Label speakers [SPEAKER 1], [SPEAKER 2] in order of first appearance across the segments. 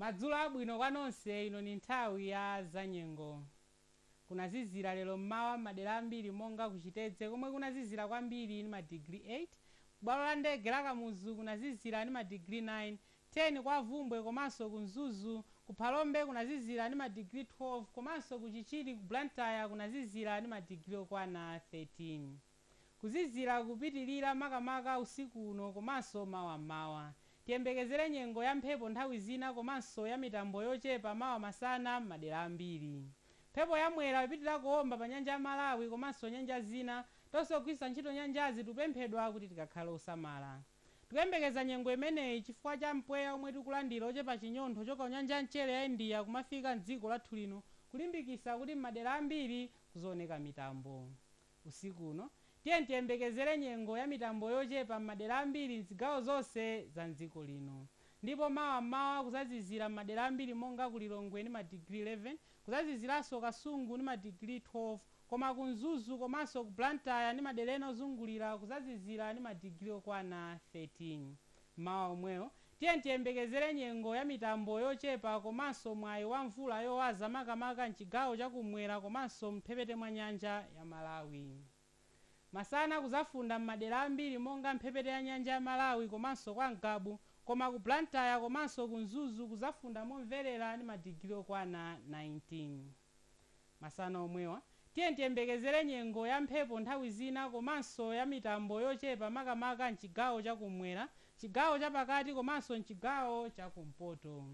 [SPEAKER 1] Madzulo abwino kwa nonse ino ni nthawi ya zanyengo. Kunazizira lero m'mawa m'madera ambiri monga ku Chitedze komwe kunazizira kwambiri ni madigiri 8, bwalo la ndege la Kamuzu kunazizira ni madigiri 9, 10 kwa Bvumbwe komanso ku Mzuzu, ku Phalombe kunazizira ni madigiri 12 komanso ku Chichiri ku Blantyre kunazizira ni madigiri okwana 13. Kuzizira kupitilira makamaka usiku uno komanso mawa m'mawa. Tiyembekezere nyengo ya mphepo nthawi zina komanso ya mitambo yochepa mawa masana m'madera ambiri. Mphepo ya Mwera ipitilira kuomba pa nyanja ya Malawi komanso nyanja zina. Tonse ogwiritsa ntchito nyanjazi tikupemphedwa kuti tikakhale osamala. Tikuyembekeza nyengo imeneyi chifukwa cha mpweya omwe tikulandira ochepa chinyontho kuchoka ku nyanja ya mchere ya India kumafika m'dziko lathu lino kulimbikisa kuti m'madera ambiri kuzaoneka mitambo. Usiku uno, tiyeni tiyembekezere nyengo ya mitambo yochepa m'madera ambiri m'zigawo zonse za m'dziko lino. Ndipo mawa m'mawa kuzazizira m'madera ambiri monga ku Lilongwe ni madigiri 11, kuzaziziranso Kasungu ni madigiri 12, koma ku Mzuzu komanso ku Blantyre ni madera ena ozungulira kuzazizira ni madigiri okwana 13. M'mawa omwewo, tiyeni tiyembekezere nyengo ya mitambo yochepa komanso mwayi wa mvula yowaza makamaka m'chigawo cha kum'mwera komanso m'mphepete mwa nyanja ya Malawi. Masana kuzafunda m'madera ambiri monga mphepete ya nyanja ya Malawi komanso kwa Ngabu koma ku Blantyre komanso ku Mzuzu kuzafunda momverera ni madigiri okwana 19. Masana omwewa, tiyeni tiyembekezere nyengo ya mphepo nthawi zina komanso ya mitambo yochepa makamaka m'chigawo cha kummwera, chigawo chapakati komanso m'chigawo cha kumpoto.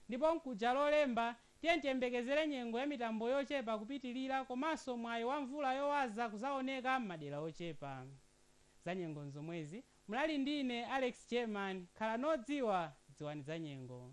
[SPEAKER 1] Ndipo mkuja Lolemba, tiyeni tiyembekezere nyengo ya mitambo yochepa kupitilira komanso mwayi wa mvula yowaza kuzaoneka m'madera ochepa. Zanyengo nzomwezi, munali ndi ine Alex German, khalani odziwa, dziwani zanyengo.